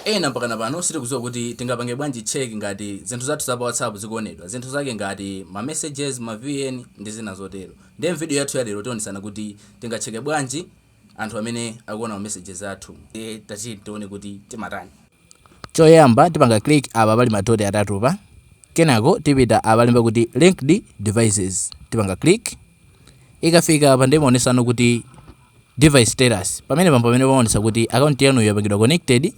Ena mpakana pano sitikudziwa kuti tingapange bwanji check ngati zinthu zathu za pa whatsapp zikuonedwa, zinthu zake ngati ma messages, ma vn ndi zina zotero. Ndiye m'video yathu ya lero tionetsana kuti tingatcheke bwanji anthu amene akuona ma messages athu. Ndiye tatiyeni tione kuti timatani. Choyamba tipanga click apa pali ma dot atatupa, kenako tipita apalemba kuti linked devices, tipanga click. Ikafika apa ndiye imaonesa no kuti device status. Pamenepa mpamene pamaonesa kuti account yanuyo yapangidwa connected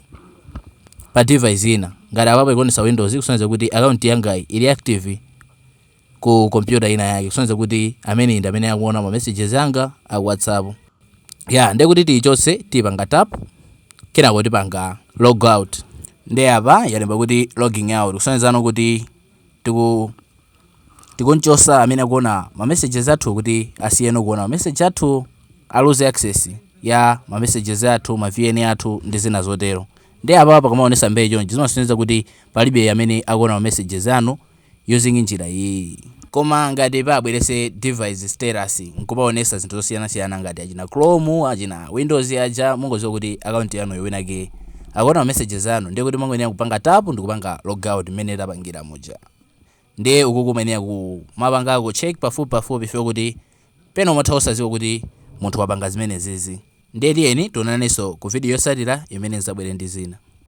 pa device ina. Ngati apapa ikuonesa Windows ikusonyeza kuti account yangayi ili active ku computer ina yake kusonyeza kuti ameneyi ndi amene akuona ma messages anga a WhatsApp. Ya ndiye kuti tiichotse tipanga tap kenako tipanga logout. Ndiye apa yalemba kuti logging out kusonyezano kuti tiku tikunchosa amene akuona ma messages athu kuti asiyeno kuona ma message athu aluze access ya ma messages athu ma vn athu ndi zina zotero nde apa pakamaonesa mbee chonchi zimasonyeza kuti palibe amene akuona ma messages anu using njira iyiyi koma ngati pabwerese device status nkupaonesa zinthu zosiyanasiyana ngati achina chrome achina windows aja mungoziwa kuti account yanuyo winake Akuona ma messages anu ndiye kuti mukungoyenera kupanga tap ndikupanga logout mmene tapangira muja ndiye ukuku muyenera kumapangako check pafupi pafupi chifukwa kuti pena umatha osaziwa kuti munthu wapanga zimenezizi ndiye tiyeni tionananeso ku video yosatira imene nzabwere ndi zina.